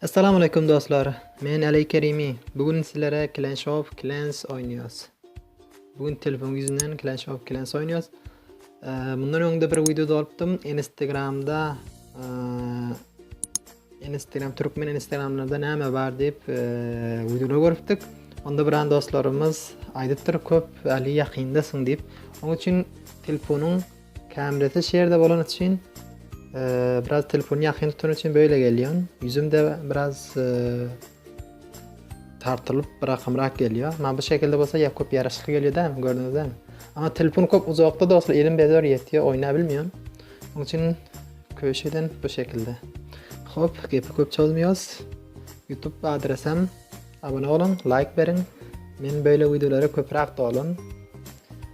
Essalamu aleykum dostlar. Men Aley Kerimi. Bu gün sizlere Clash of Clans oýnaýas. Bu gün telefon ýüzünden Clash of Clans oýnaýas. Mundan öňde bir wideo dolupdym. Instagramda Instagram türkmen Instagramlarda näme bar diýip wideo görüpdik. Onda bir an dostlarymyz aýdypdyr köp ali ýakynda syň diýip. Onuň üçin telefonuň Kamerasy şu ýerde bolany üçin biraz telefony ýakyn tutany üçin böyle gelýän. Ýüzüm de biraz tartylyp bir akymrak gelýär. Amma bu şekilde bolsa ýa köp ýaraşykly gelýär dämi gördüňiz dämi? Amma telefon köp uzakda dostlar elim bezor ýetýär oýnap bilmeýän. Onuň üçin köşeden bu şekilde. Hop, gepi köp çozmaýas. YouTube adresem abone olun, like beriň. Men böyle videolara köprak dolun.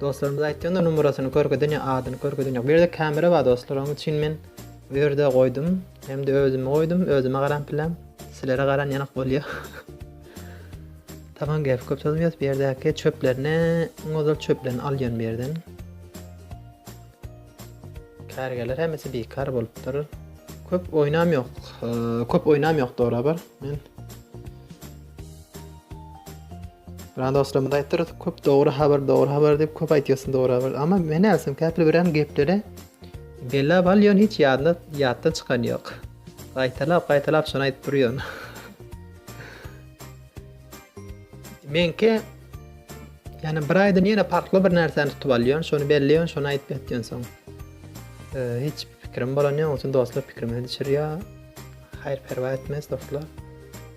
Dostlarymyz aýtýanda numarasyny körkezen ýa adyny körkezen ýok. Bu ýerde kamera bar dostlar oň üçin men bu ýerde goýdum. Hemde özümi goýdum özüme garan piläm. Silere garan ýanyk bolýa. Tamam gep köp sozmýas bu ýerdäki çöplerini iň ozal çöplerini alýan bu ýerden. Kärgerler hemmesi bikar bolupdyr. Köp oýnam ýok. Köp oýnam ýok dogry bar. Men Bana dostlarymyz aýtdyrys, köp dogry habar, dogry habar diýip köp aýtýarsyn dogry habar. Amma men näsem käpli birem gepleri bellap alýan hiç ýadyna ýatdan çykan ýok. Gaýtalap, gaýtalap şony aýdyp durýan. Menki ýani bir aýdan ýene parkly bir närseni tutup alýan, şony belleýän, şony aýdyp ýatýan soň. E, hiç pikirim bolan ýok, üçin dostlar pikirimi düşürýär. Haýr perwa etmez dostlar.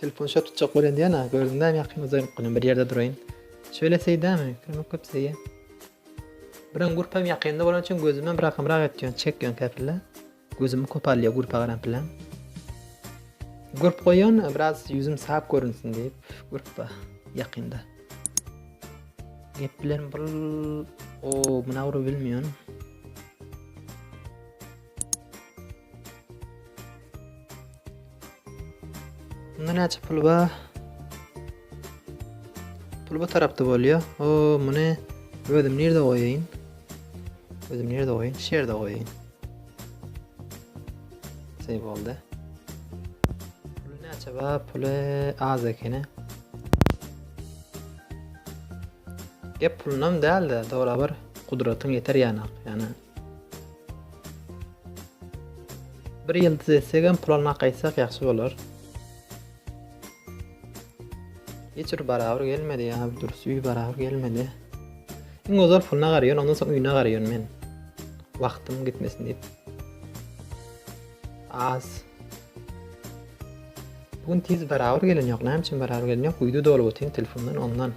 Telefon şo tutjak bolýan diýýän a gördüm näme ýakyn uzaýyp günüm bir ýerde duraýyn. Şöyle seýdämi? Kömek köp seýe. Biren gurp hem ýakynda bolany üçin gözüm hem rakymrak etýän çek ýan käpille. Gözümi kopalýa gurpa garan pilen. Gurp goýan biraz ýüzüm sap görünsin diýip gurpa ýakynda. Gep bilen bul o muna ury bilmiýän. Bunda näçe pul bar? Pul bu tarapda bolýar. O, muny özüm nirde goýaýyn? Özüm nirde goýaýyn? Şu ýerde goýaýyn. Şey boldy. Pul näçe bar? Pul az ekeni. Gep pulunam däl-de, dogry bir gudratyň ýeter ýanak. Ýani Bir ýyldyz etsegem pul almak gaýtsak ýagşy bolar. Hiç bir barabyr gelmedi ýa bir durus üý barabyr gelmedi. Iň ozal puluna garaýan ondan soň üýüne garaýan men. Wagtym gitmesin diýip. Az. Bugün tiz barabyr gelen ýok. Näme üçin barabyr gelen ýok? Uýdy dolup otyryn telefondan ondan.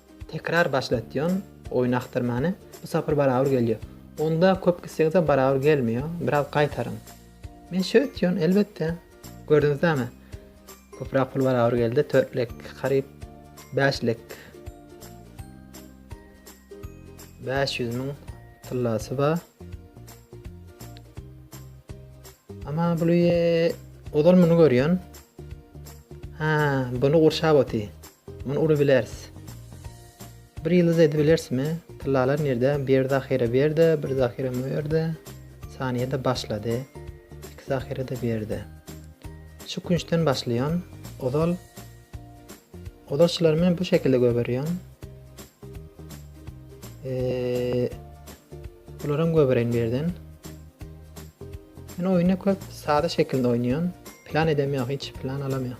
Tekrar başlatýan oýun akdyrmany bu sapar barabur gelýär. Onda köp gitseňizem barabur gelmeýär. Biraz gaýtaryň. Men şeý etýän elbetde. Gördüňizdämi? Köprak pul barabur geldi. Törtlek, garyp, bäşlek. 500 min tyllasy bar. Ama bulu ozal muny görýän. Ha, bunu gurşap oty. Muny uly bileris. Bir ýyldyz edibilersmi? Tyllalar nirde? Bir zahyra bir ýerde, bir zahyra mu ýerde. Saniýede başlady. Iki zahyra-da bir ýerde. Şu künçden başlaýan. Ozal Ozal şulary men bu şekilde göberýän. Eee Bularam göbereýin bir ýerden. Men oýny köp sada şekilde oýnaýan. Plan edemýän, hiç plan alamýan.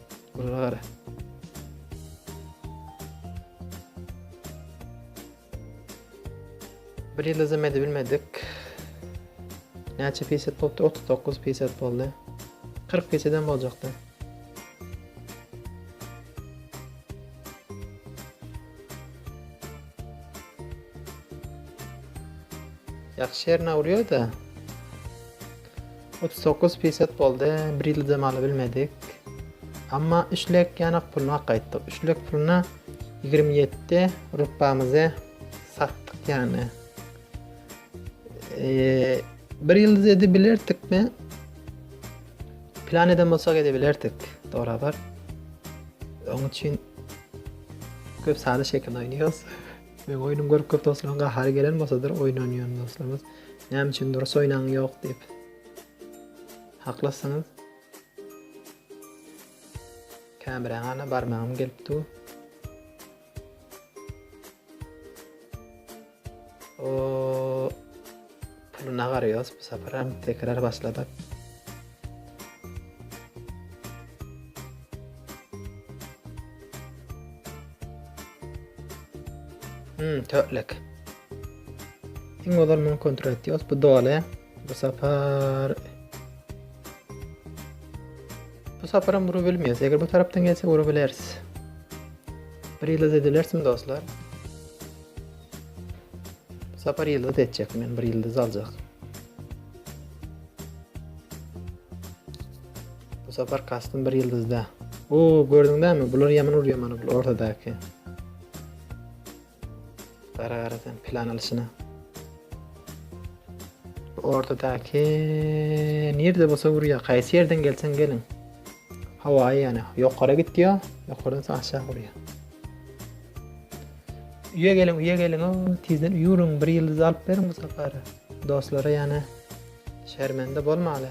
Buna gara. Bir ýyl özüm edip bilmedik. Näçe peýset bolupdyr? 39 peýset boldy. 40 peýseden boljakdy. Ýagşy ýerine urýar-da. Otuz dokuz pysat boldy, bir ýyldam alybilmedik. Emma üç lek ýanak puluny hak gaýtdyk. Üç lek puluna ýigrimi ýedi rupbamyzy satdyk ýany. Eee, bir ýyldyz edebilerdikmi? Plan eden bolsak edebilerdik, dogry-a Öň üçin köp sady şekil oýnuyoruz. Meň oýnum görüp köp dostlaryň gahary gelen bolsadyr oýnan ýöne dostlarymyz näme üçin durus oýnaň ýok diýip. Haklysyňyz. Kämräň ana barmagym gelip dur. O Puluna garaýos bu saparam tekrar başladyk. Hmm, tötlek. Iň ozal muny kontrol etýos. Bu doly. Bu sapar Bu saparam vurup bilmeýäs. Eger bu tarapdan gelse vurup bileris. Bir ýyldyz edilersin dostlar. Sapar ýyldyz etjek men bir ýyldyz aljak. Bu sapar kastym bir ýyldyzda. Oo gördüň dämi bular ýaman urýar mana bu ortadaky. Gara gara sen plan alşyna. Ortadaky nirde bolsa urýar. Kaýsy ýerden gelseň geliň. Hawa ýani ýokara gitýär, ýokardan aşağı urýar. Üýe geliň üýe geliň o tizden üýüriň bir ýyldyz alyp beriň bu sapar dostlara ýane şermende bolmaly.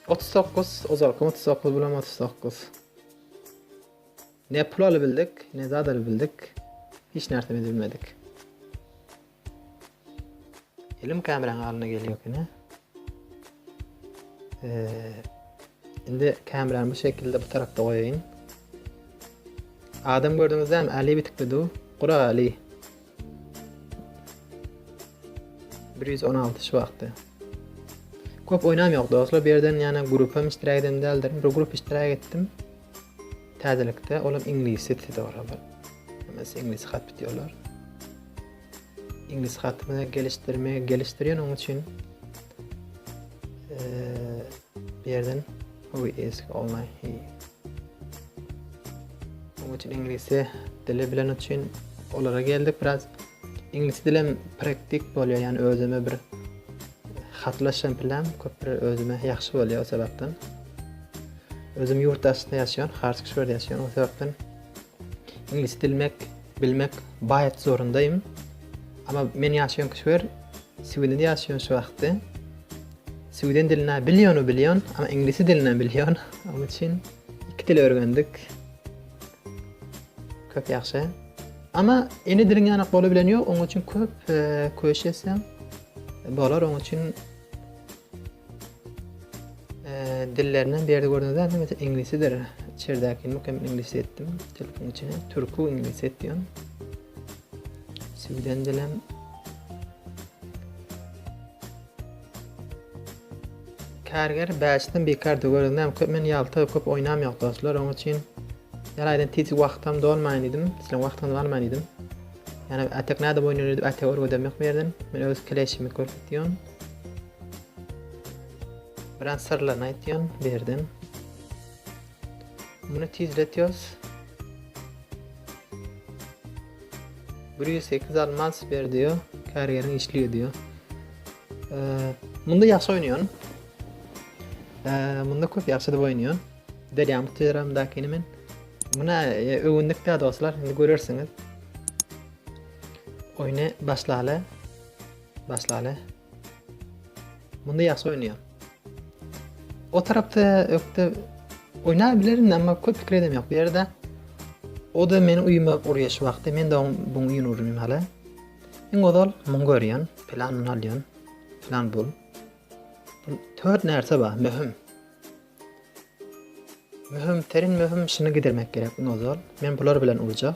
Otuz dokuz, ozalkym otuz dokuz, bulam otuz dokuz. Ne pul alybildik, ne zat alybildik. Hiç närsemiz bilmedik. Elim kameranyň alnyna gelýär ýöne. Eee indi kamerany bu şekilde bu tarafda goýaýyn. Adam gördüňizde hem Ali bitikdi du. Gura Ali. 116 şu wagtda. Köp oýnam ýok dostlar. Bir ýerden ýana grupam iştirak edem däldir. Bir grup iştirak etdim. Täzelikde olam iňlis sitide bar olar. Hemmesi iňlis hat bitýärler. Iňlis hatyny gelişdirme gelişdirýän onuň üçin eee bir ýerden we is online he. Onuň üçin iňlisi dili bilen üçin olara geldik biraz. Iňlis dilem praktik bolýar, ýani özüme bir hatlaşan plan köp bir özüme ýagşy bolýar o sebäpden. Özüm ýurt daşynda ýaşaýan, Hartsk şeýle ýaşaýan o sebäpden. Iňlis dilmek, bilmek baýat zorundaýym. Amma men ýaşaýan köşwer Sweden ýaşaýan şu wagtda. Sweden dilini bilýän, bilýän, amma iňlis dilini bilýän. Onuň üçin iki dil öwrendik. Köp ýagşy. Ama ene diliň ýanak bola bilen ýok, oň üçin köp e, köş etseň bolar, oň üçin e, dillerinden berdi gördüňiz ä, mesela inglisidir. Çerdäki mukem inglis etdim. Telefon içine türkü inglis etdim. Süden dilem Karger bäşden bikardy görüz näme köp men ýalta köp oýnam ýok dostlar oň üçin ýar aýdan tiz wagtam dolmaýyn diýdim sizleň wagtyňyzy almaýyn diýdim ýani atak näde oýnanýar diýip atak örgedem ýok bu ýerden men öz kleşimi görkezýän biraz syrlaryny aýtýan bu ýerden muny tizletýos Bir ýüz sekiz almas ber diýýär. Kärgeriň işligi diýýär. Munda ýagşy oýnaýan. Munda köp ýagşy diýip oýnaýan. Berýän bu teleramdakyny men. Muna e, öwündik dä dostlar, indi görersiňiz. Oýny başlaly. Başlaly. Munda ýagşy oýnaýar. O tarapda ökde oýnap bilerin, emma köp pikir edem ýok. Bu ýerde o da meni uýuma urýar şu wagtda. Men de oň bu uýun urýan hala. Iň ozal muň görýän, plan muny alýan. Plan bul. Bu tört närse bar, möhüm. Möhüm, terin möhüm şunu gidermek gerek iň ozal. Men bular bilen urjak.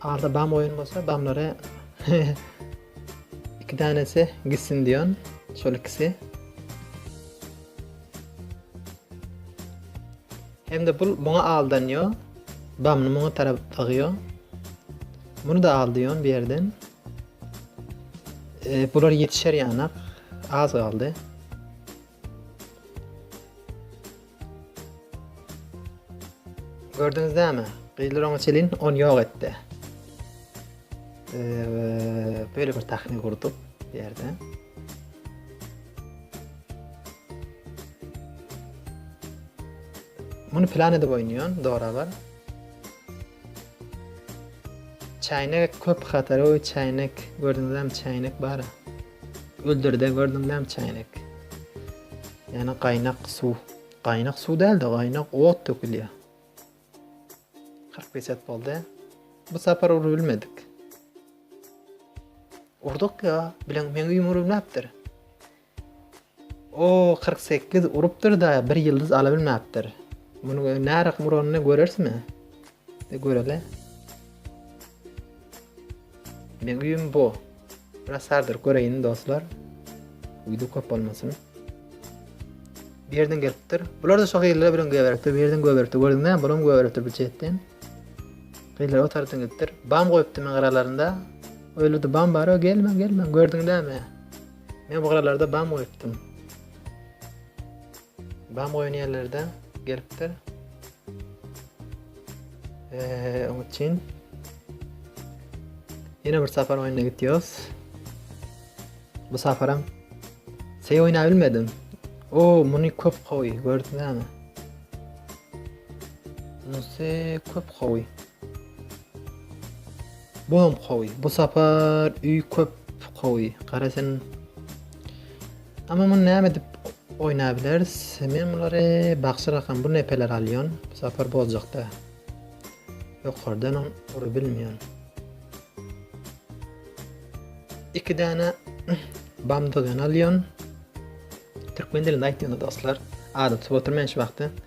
Arda bam oýun bolsa bamlary iki danesi gitsin diýen şol ikisi. Hem-de bul muňa aldanýo. Bamny muňa tarap agýo. Muny da al diýen bir ýerden. E, bular ýetişer ýanak. Az galdy. Gördüňiz näme? Gyzlar oňa çelin on ýok etdi. Eee, böyle bir tahmin gurduk bu ýerde. Muny plan edip oýnaýan, dogry habar. Çäýnek köp hatary we çäýnek gördüňizmi çäýnek bar. Öldürde gördüň näme üçin gerek. Ýani gaýnak suw. Gaýnak suw dälde gaýnak ot dökülýär. 45 et boldy. Bu sapar urup bilmedik. Urduk ya, bilen meň üýüm urup näpdir. O kyrk sekiz urupdyr-da, bir ýyldyz alabilmäpdir. Munuň nä rykym uranyny görerismi? De göreli. Meňüýim bu. Biraz sardyryp göreýin, dostlar. Uýdy köp bolmasyn. Birden gelipdir. Bular-da şo gyzlara bilen göberipdir, birden göberipdir. Gördüňizmi? Bulam göberipdir bu çetden. Gyzlar o tarapdan gidipdir. Bam goýupdy men garalarynda. Öýlerde bam bar, gelme, gelme. Gördüňizmi? Men bu garalarda bam goýupdym. Bam goýan ýerlerde gelipdir. Eee, onuň üçin ýene bir sapar oýna gitýärys. Bu saparam Sey oýna bilmedim. O, muny köp gowy, gördüňizmi? Muny köp gowy. Bu hem gowy. Bu sapar öý köp gowy. Gara sen. Ama muny näme edip oýnabileris? Men bulary bagşy rakam bu nepeler alýan. Bu sapar bozjakda. Ýokardan on ury bilmeýän. Iki dana bamdygan alýan. Türkmen dilinde aýtdyňyz dostlar. Adyp tutup oturmaýan şu wagty.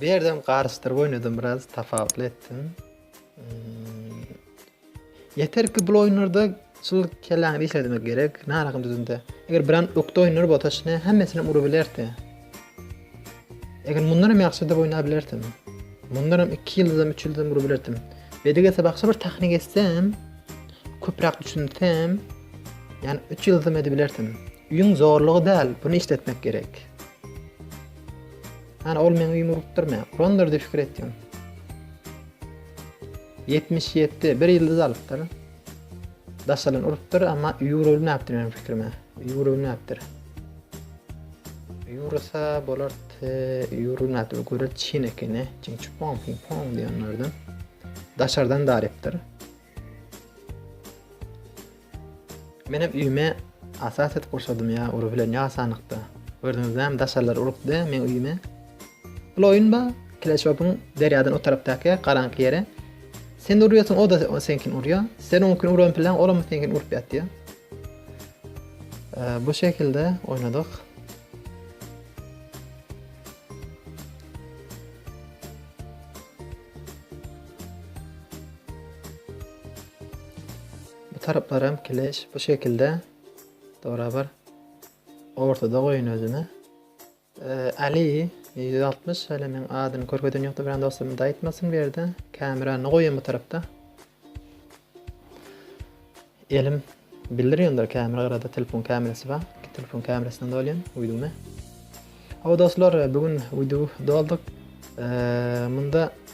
Bu ýerdem garyşdyryp oýnadym biraz tapawutly etdim. Hmm. Yeter ki bu oyunlarda şul kelläňi işlemek gerek. Ne alakam düzünde. Eger bir an ökde oyunlar bolsa şuna hemmesini urup bilerdi. Eger bundan hem ýagşy da oýnap bilerdim. Bundan hem 2 ýyldam 3 ýyldam urup bilerdim. Bedik etse başga bir tahnik etsem, köpräk düşünsem, yani 3 ýyldam edip bilerdim. Üýüň zorlugy däl buny işletmek gerek. Hany ol meň üýümi urupdyr men urandyr diýip pikir etdim. Ýetmiş ýetdi bir ýyldyz alypdyr. Daşalan urupdyr amma üýi urulmapdyr meniň pikirime. Üýi urulmapdyr. Ýursa bolar ýurulmady bu göre çyn ekeni. Çyn çupon ping pong diýenlerden. Daşardan darypdyr. Menem üýme asa set gurşadym ýa ury bilen ýa asanlykda. Gördüňiz näme daşarlar urupdy meň üýme. Bul oýun ba Clash Open derýadan o tarapdaky garaňky ýere. Sen urýasyň o da seňkini urýa. Sen oňkini uran pilaň olam seňkini urup ýatýa. Bu şekilde oýnadyk. Bu taraplaram kileş bu şekilde dorabar. Ortada goýun özüni. Ee, Ali 160 hele men adyny körkezen ýokdy bilen dostum da aýtmasyn bu ýerde. Kamerany goýan bu tarapda. Elim bildir ýöndür kamera garada telefon kamerasy bar. Telefon kamerasyndan dolýan uýduny. Aw dostlar, bugün uýdu dolduk. Ee, munda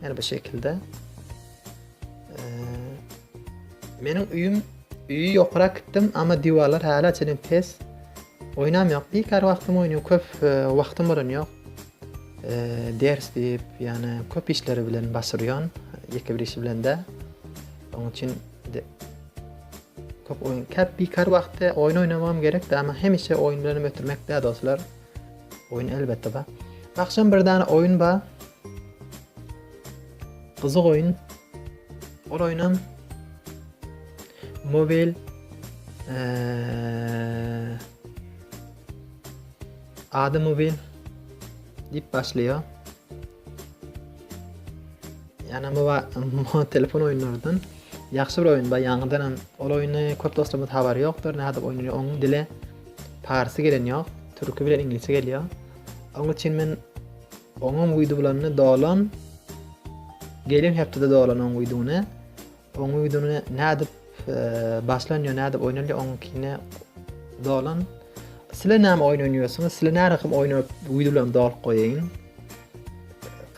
Her bir şekilde. Meniň üýüm üýi ýokara gitdim, amma diwarlar hala çenem pes. Oýnam ýok. Bir kar wagtym oýnuň köp e, wagtym bolan ýok. E, ders diýip, ýani köp işleri bilen başyrýan, ýeke bir işi bilen de. Onuň üçin köp oýun, köp bir kar wagtda oýun oýnamam gerek, amma hemişe oýun bilen ötürmek de dostlar. Oýun elbetde ba. Akşam bir dana oýun ba. Gyzyk oýun. Ol oýnam mobil ady mobil dip başlaýar. Ýana bu telefon oýunlardan ýagşy bir oýun bar. Ýaňydan hem ol oýny köp dostlarymyz habary ýokdur. Nädip oýnany onuň dili parsy gelen ýok. Türki bilen iňlisçe gelýär. Onuň üçin men Oňam uydu bulanda dolan. Gelen hepdede dolan oň uýduny. Oň uýduny nädip e, başlanýa, nädip oýnalýa oňkine dolan. Sizler näme oýun oýnaýarsyňyz? Sizler näme rakam oýun uýdu bilen dolyp goýaýyň.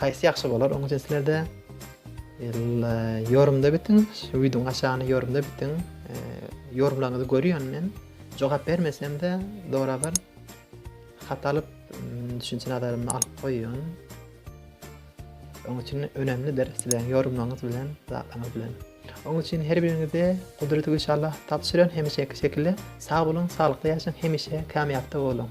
Haýsy ýagşy bolar? Oň üçin sizlerde e, ýorumda bitiň, uýduň aşagyny ýorumda bitiň. E, Ýorumlaryňyzy görýän men. Jogap bermesem-de, dorabar. Hat alyp Düşünçe nazaryny alyp goýuň. Onuň üçin önemlidir sizlerin ýorumlaryňyz bilen, zatlaryňyz bilen. Onuň üçin her biriňize gudraty güýç Allah tapşyrýan hemişe iki şekilde sag boluň, saglyk ýaşaň, hemişe kämýapda boluň.